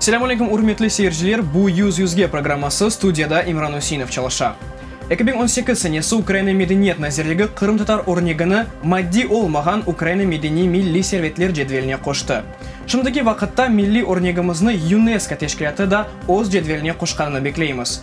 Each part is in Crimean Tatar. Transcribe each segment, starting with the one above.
Selâm aleyküm, ürmetli seyirciler! Bu Yüz yüzge programması, studiyada İmran Üseinov çalışa. Eki biñ on sekiz senesi Ukraina Medeniyet nazirligi qırımtatar örnegini maddiy olmağan Ukraina medeniy milliy servetler cedveline qoştı. Şimdiki vaqıtta milliy örnegimizni UNESCO teşkilâtı da öz cedveline qoşqanını bekleymiz.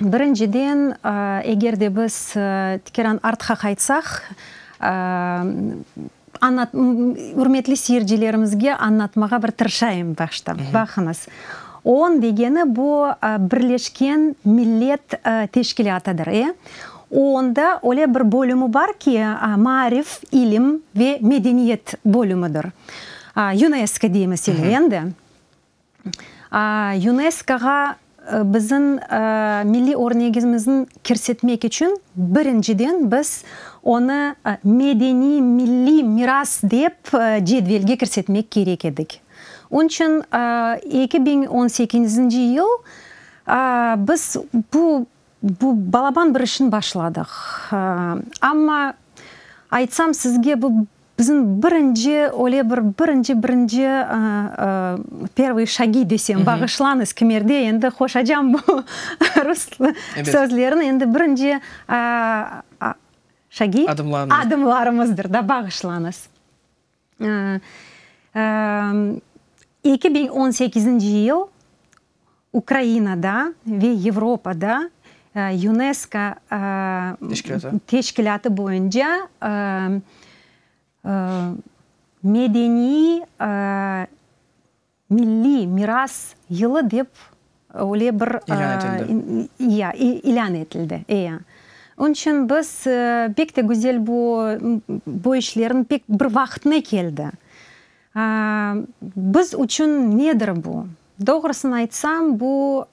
Birinciden, eger de biz tikeran artqa qaytsaq, ürmetli seyircilerimizge añlatmağa bir tırışayım başta. Baqıñız, OON degeni bu Birleşken Millet Teşkilâtıdır. E, OON da öyle bir bölümü bar ki, Maarif, İlim ve Medeniyet bölümüdir. UNESCO deymiz endi. YUNESKOğa bizim milliy örnegimizin kirsetmek içün birinciden biz onı medeniy milliy miras dep cedvelge kirsetmek kerek edik. Onı içün eki biñ on sekinzinci yıl biz bu balaban bir işni başladıq. Amma aytsam sizge bu Bizim birinci, öyle bir birinci, birinci, pervıy şagi desem, bağışlañız, kimerde endi qoşacam bu rus sözlerini, endi birinci şagi adımlarımızdır da, bağışlañız. Eki biñ on sekizinci yıl. Ukrainada ve Yevropada UNESCO teşkilâtı boyunca medeniy milliy miras yılı dep öyle bir ilân etildi. Onıñ içün biz pek de güzel bu işlerniñ pek bir vaqtına keldi. Biz içün nedir bu? Doğrusını aytsam, bu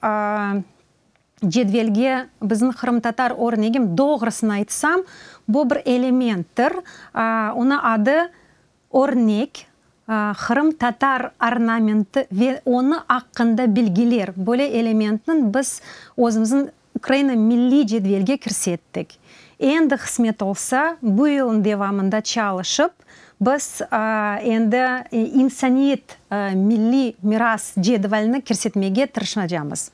cedvelge biziñ qırımtatar örnegim, doğrusını aytsam, bu bir elementtir, onı adı örnek, qırımtatar ornamenti ve onı aqqında bilgiler, böyle elementniñ biz özümizniñ Ukraina milliy cedvelge kirse ettik. Endi qısmet olsa, bu yılnıñ devamında çalışıp, biz endi insaniyet milliy miras cedvelini kirsetmege tırışnacamız.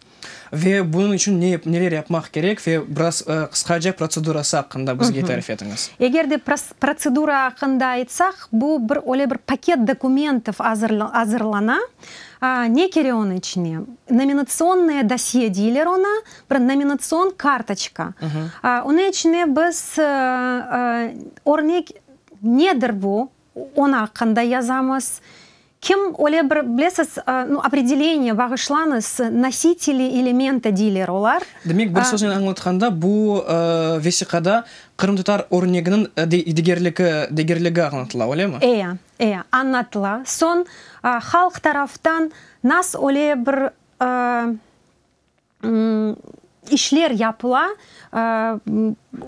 Ve bunıñ içün ne, neler yapmaq kerek ve biraz qısqaca protsedurası aqqında bizge tarif etiñiz. Eger de protsedura aqqında aytsaq, bu bir öyle bir paket dokumentov azırlana, Ne kere onı içine? Nominatsiyonnıye dosye deyler onı, bir nominatsion kartoçka. Onı içine biz, örnek, nedir bu, onı aqqında yazamız. Kim öyle bir, bilesiz, opredeleniye bağışlañız, nositeli elementa deyler olar. Demek, bir söznen añlatqanda, bu vesiqada qırımtatar örneginiñ degerligi añlatıla, öylemi? Eya, E, añlatıla. Soñ halq taraftan nas öyle bir işler yapıla,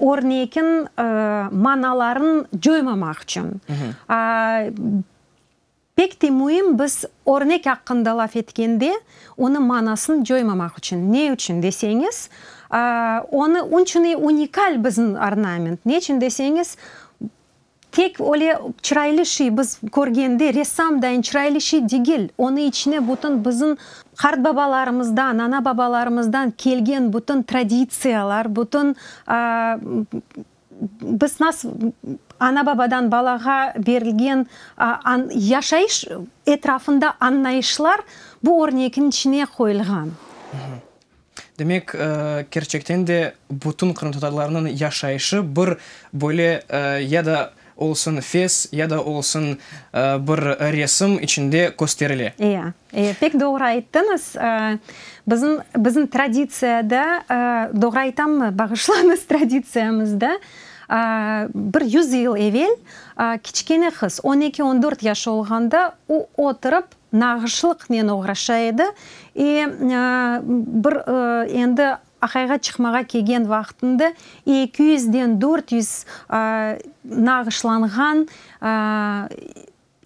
örnekin manalarını coymamaq içün. Pek te müim biz örnek aqqında laf etkende onı manasını coymamaq içün. Ne içün deseñiz, onı, onçunı unikal bizim ornament. Ne içün deseñiz, Tek öyle çıraylı şey biz körgende, ressam dayın çıraylı şey degil, onı içine bütün bizim qartbabalarımızdan, anababalarımızdan kelgen bütün traditsiyalar, bütün biz nasıl anababadan balağa berilgen yaşayış etrafında añlayışlar bu örnekniñ içine qoyulğan. Demek, kerçekten de bütün qırımtatarlarnıñ yaşayışı bir böyle ya da olsun fes, ya da olsun bir resim içinde kösterile. Eya, eya, pek doğru ayttıñız. Bizim, bizim traditsiyada, doğru aytammı, bağışlañız, traditsiyamızda bir yüz yıl evel kiçkene qız, on eki, on dört yaşı olğanda o oturıp, Nağışlıqnen oğraşa edi. E, bir endi aqayğa çıqmağa kelgen vaqtında eki yüzden dört yüz nağışlanğan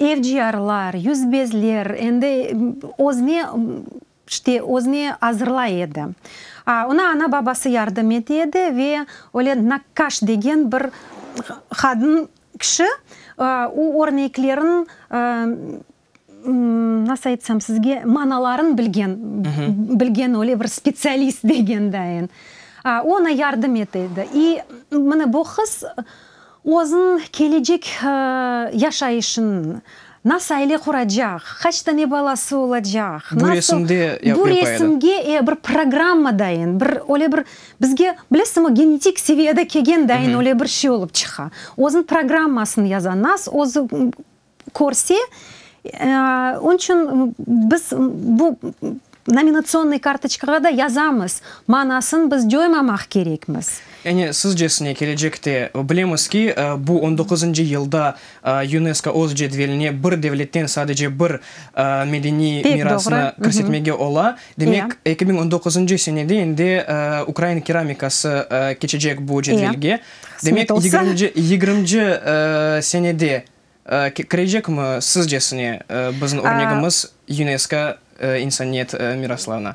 evciyarlar, yüzbezler, endi özüne, işte, özüne azırlay edi. Oña ana-babası yardım ete edi ve öyle nakkaş degen bir qadın kişi o örneklerin Nasıl aytsam sizge, manalarını bilgen, bilgen öyle bir spetsialist degendayin, oña yardım ete edi. İ mine bu qız özüniñ kelecek yaşayışını, nasıl aile quracaq, qaç tane balası olacaq, nasıl, Bu resimde yapıp edi. Bu resimge, e, bir programmadayin, bir öyle bir bizge, bilesiñmi, genetik seviyede kelgendayin öyle bir şey olıp çıqa. Özüniñ programmasını yaza, nasıl özü körse, onıñ içün biz bu nominatsiyonnıy kartoçkağa da yazamız, manasın biz coymamaq kerekmiz. Yani, sizcesine, kelecekte, bilemiz ki, bu on doquzıncı yılda UNESCO öz cedveline bir devletten sadece bir medeniy mirasnı kirsetmege ola, demek, eki biñ on doquzıncı senede endi Ukraina keramikası keçecek bu cedvelge, demek, yigirmci senede Kirecekmi sizcesine biziñ örnegimiz UNESCO insaniyet miraslarına?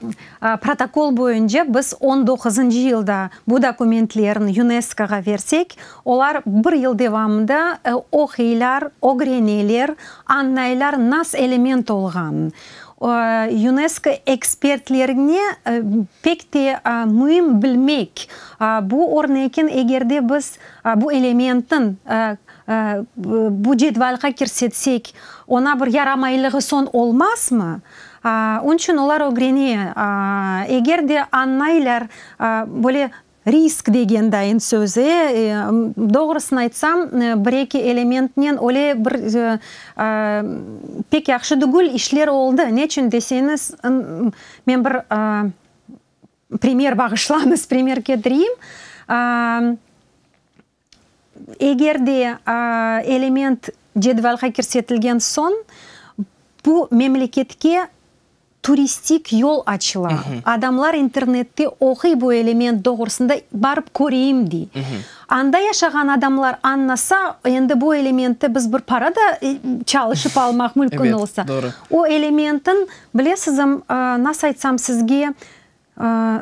Protokol boyunca biz on doquzıncı yılda bu dokumentlerni UNESCOğa versek, olar bir yıl devamında oqıylar, ögreneler, añlaylar nas element olğan. UNESCO ekspertlerine pek te müim bilmek, bu örnekin eger de biz bu elementniñ Bu cedvalğa kirsetsek, oña bir yaramaylığı soñ olmazmı? Onı içün olar ögrene, eger de añlaylar, böyle risk degen dayın sözi, doğrusını aytsam, bir-eki elementnen öyle bir pek yahşı degil işler oldı. Ne içün deseñiz, men bir primer, bağışlañız, primer ketireyim. Eger de element cedvalğa kirsetilgen soñ, bu memleketke turistik yol açıla. Adamlar internette oquy bu element doğrusında, barıp köreyim dey. Anda yaşağan adamlar añlasa, endi bu elementte biz bir para da çalışıp almaq mümkün olsa. O elementniñ, bilesizim, nasıl aytsam sizge,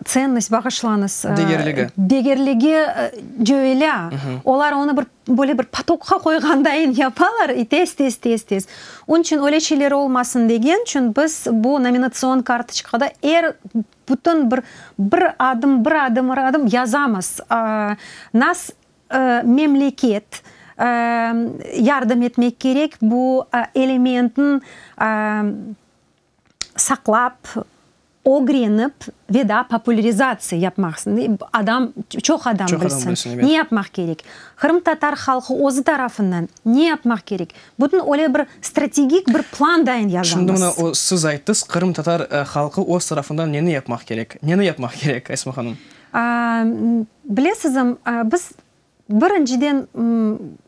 Tsennost, bağışlañız. Degerligi. Degerligi cöelâ. Olar onı bir, böyle bir potoqqa qoyğandayın yapalar, i tez, tez, tez, tez. Onıñ içün öyle şeyler olmasın degen içün biz bu nominatsion kartoçkada er, bütün bir, bir adım, bir adım, bir adım yazamız. Nas, memleket yardım etmek kerek bu elementniñ, saqlap, ögrenip ve daa populerizatsiya yapmaq, adam, çoq adam bilsin, ne yapmaq kerek? Qırımtatar halqı özü tarafından ne yapmaq kerek? Bütün öyle bir strategik bir plan dayın yazamız. Şimdi mına o, siz ayttız, qırımtatar halqı öz tarafından neni yapmaq kerek? Neni yapmaq kerek, Esma hanım? Bilesizim, biz birinciden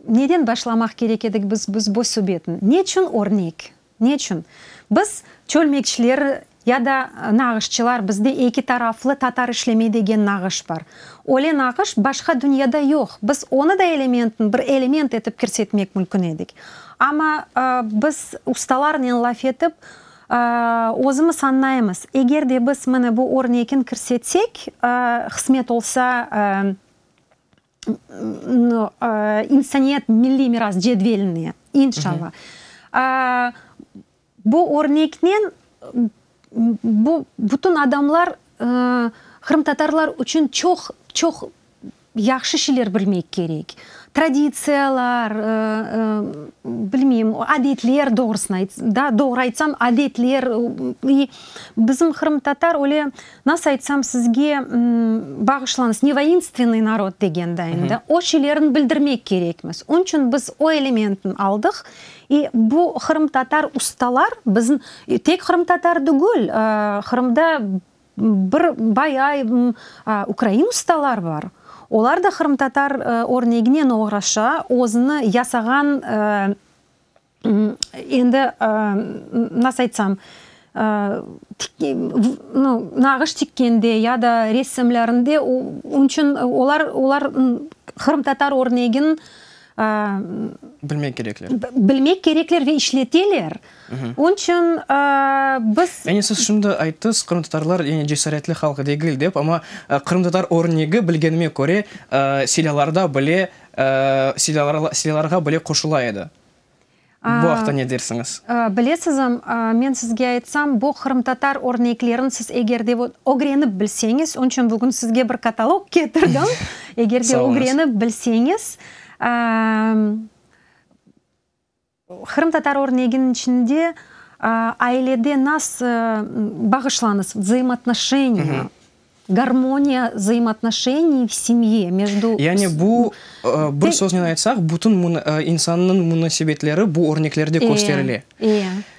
neden başlamaq kerek edik biz bu subetni? Neçün örnek? Ne içün? Biz, çölmekçiler ya da nağışçılar, bizde eki taraflı tatar işlemey degen nağış bar. Öyle nağış başqa dünyada yoq. Biz onı da elementniñ bir element etip kirsetmek mülkün edik. Amma biz ustalarnen laf etip, özümiz añlaymız, eger de biz mine bu örnekin kirsetsek, hısmet olsa, İnsaniyet milliy miras cedveline, inşalla. Bu örneknen bu bütün adamlar qırımtatarlar içün çoq, çoq yahşı şeyler bilmek kerek. Traditsiyalar, bilmeyim, adetler, doğru aytsam, adetler bizim qırımtatar öyle Nasıl aytsam sizge, bağışlañız, ne voinstvennoy narod degende endi, o şeylerni bildirmek kerekmiz. Onıñ içün biz o elementni aldıq. İ bu qırımtatar ustalar bizim, tek qırımtatar degil, Qırımda bir bayay ukrain ustalar bar. Olar da qırımtatar örneginen oğraşa, özüni yasağan, Endi, nasıl aytsam, nağış tikkende ya da resimlerinde onıñ içün olar, olar qırımtatar örnegin, Bilmek kerekler. Bilmek kerekler ve işleteler. Onıñ içün biz. Yani siz şimdi ayttız, qırımtatarlar yani cesaretli halq degil dep, amma qırımtatar örnegi bilgenime köre, silâlarda bile, silâlarğa bile qoşula edi. Bu aqta ne dersiñiz? Bilesizim, men sizge aytsam, bu qırımtatar örneklerin siz eger de ögrenip bilseñiz, onıñ içün bugün sizge bir katalog ketirdim, eger de ögrenip bilseñiz, qırımtatar örneginiñ içinde ailede nasıl, bağışlañız, vzaimotnoşeniya, Garmoniya zaimatnoşeniy v semye mejdu. Yani bu, bir söznen aytsaq, bütün insannıñ munasebetleri bu örneklerde kösterile.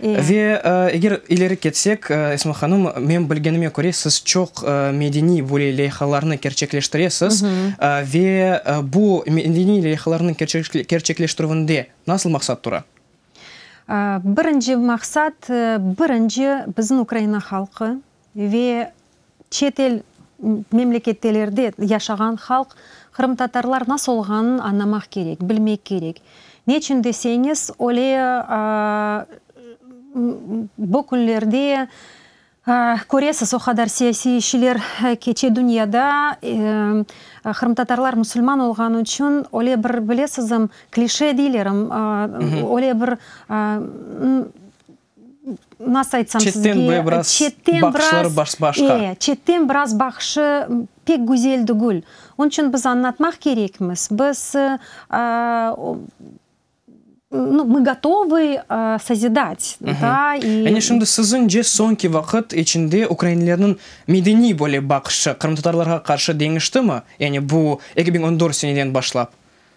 Ve eger ileri ketsek, Esma hanım, men bilgenime köre, siz çoq medeniy böyle leyhalarnı kerçekleştiresiz. Ve bu medeniy leyhalarnıñ kerçekleştirüvinde nasıl maqsat tura? Birinci maqsat, birinci, bizim Ukraina halqı, ve çet el memlekettelerde yaşağan halq qırımtatarlar nasıl olğanın añlamaq kerek, bilmek kerek. Neçün deseñiz, öyle bu künlerde köresiz, o qadar siyasiy işiler keçe dünyada, qırımtatarlar musulman olğanı içün öyle bir, bilesinizm, klişe deylerim, öyle bir Nasıl aytsam sizge? Çetten böyle biraz baqışları başqa. E, çetten biraz baqışı pek güzel degül. Onıñ içün biz añlatmaq kerekmiz. Biz, nu, mı gotovı sozidat, da, i. Yani şimdi siziñce soñki vaqıt içinde ukrainlerniñ medeniy böyle baqışı qırımtatarlarğa qarşı deñiştimi? Yani bu eki biñ on dört seneden başlap.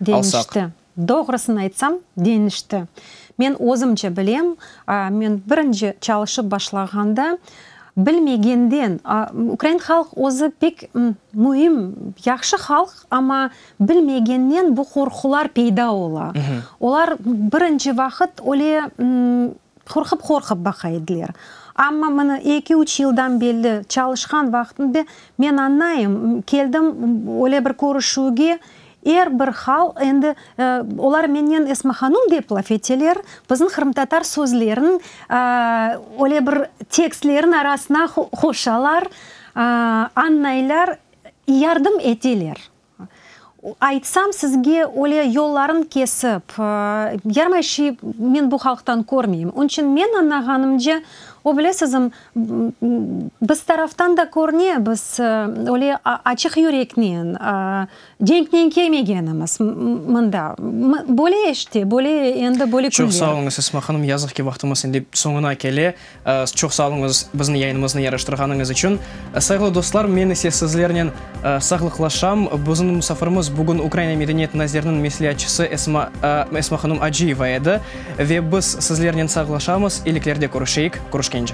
Deñişti. Doğrusını aytsam, deñişti. Men özümce bilem, men birinci çalışıp başlağanda, bilmegenden, ukrain halq özü pek müim, yahşı halq, amma bilmegenden bu qorqular peyda ola. Olar birinci vaqıt öyle qorqup-qorqup baqa ediler. Amma mına eki-üç yıldan belli çalışqan vaqtımda men añlayım, keldim öyle bir körüşüvge, Er bir hal, endi, olar mennen esmahanum dep laf eteler, bizim qırımtatar sözlerin, öyle bir tekstlerin arasına qoşalar, añlaylar, yardım eteler. Aytsam sizge, öyle yollarını kesip, yarmay şey men bu halqtan körmeyim. Onıñ içün men añlağanımca, o, bilesizim, biz taraftan da körüne, biz öyle açıq yüreknen, Cenknen kelmegenimiz mında. Böyle işte, böyle endi, böyle künler. Çoq sağ oluñız, Esma hanım. Yazıq ki, vaqtımız indi soñuna kele. Çoq sağ oluñız biziñ yayınımıznı yaraştırğanıñız içün. Sayğılı dostlar, men ise sizlernen sağlıqlaşam. Biziñ musafirimiz bugün Ukraina medeniyet naziriniñ mesleatçısı Esma, Esma hanım Acıyeva edi. Ve biz sizlernen sağlaşamız, iyiliklerde körüşeyik, körüşkence.